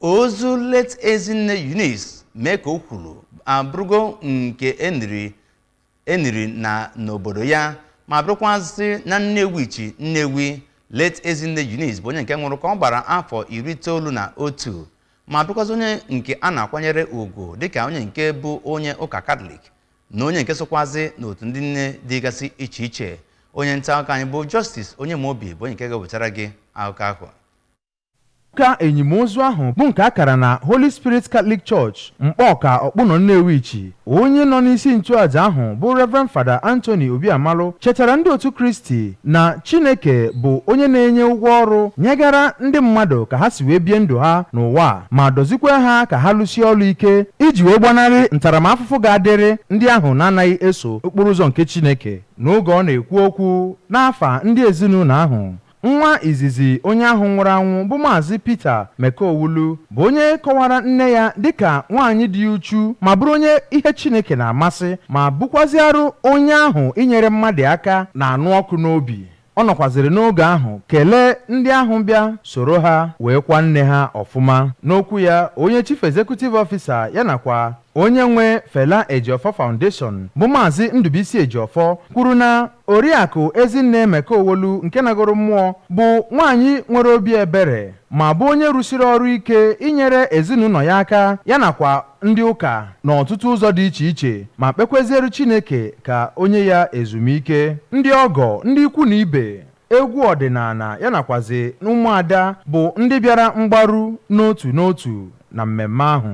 ozu late Ezinne Eunice Mekowulu abụrụgo nke eniri na n'obodo ya ma bụrụkwazị na Nnewichi Nnewi late Ezinne Eunice bụ onye nke nwụrụ ka ọ gbara afọ iri itoolu na otu ma bụrụkwazị onye nke a na-akwanyere ugwu dịka onye nke bụ onye ụka katọlik na onye nke sokwazị n'otu ndị nne dịgasị iche iche onye nta akụkọ anyị bụ Justice Onyemobi bụ onye nke ga-ewetara gị akụkọ ahụ Ụka enimozu ahụ bụ nke a kara na Holy Spirit Catholic Church, Mkpọọka, Ọkpụnọ Nnewichi, onye nọ n'isi nchụaja ahụ bụ Rev. Father Anthony Obiamalụ chetara ndị otu Kristi na Chineke bụ onye na-enye ụgwọ ọrụ nyegara ndị mmadụ ka ha si wee bie ndụ ha n'ụwa a ma dọzikwaa ha ka ha lụsie ọlụ ike iji wee gbanarị ntaramafụfụ ga-adịrị ndị ahụ na-anaghị eso okporo ụzọ nke Chineke. N'oge ọ na-ekwu okwu n'afa ndị ezinụnọ ahụ, Nwa izizi onye ahụ nwụrụ anwụ bụ Maazị Peter Mekowulu bụ onye kọwara nne ya dịka nwaanyị dị uchu ma bụrụ onye ihe Chineke na-amasị ma bụkwazịarụ onye ahụ inyere mmadụ aka na-anụ ọkụ n'obi. Ọ nọkwazịrị n'oge ahụ kelee ndị ahụ bịa soro ha wee kwa nne ha ọfụma. N'okwu ya, onye Chief Executive Officer ya nakwa onye nwe Fela Ejiofọ Foundation bụ Maazị Ndụbụisi Ejiofọ kwuru na Oriakụ Ezinne Mekowulu nke nagoro mmụọ bụ nwaanyị nwere obi ebere ma bụ onye rụsiri ọrụ ike inyere ezinụnọ ya aka ya nakwa ndị ụka n'ọtụtụ ụzọ dị iche iche ma kpekweziere Chineke ka o nye ya ezumike. Ndị ọgọ, ndị ikwu na ibe, egwu ọdịnana ya nakwazị ụmụada bụ ndị bịara mgbaru n'otu n'otu na mmemme ahụ.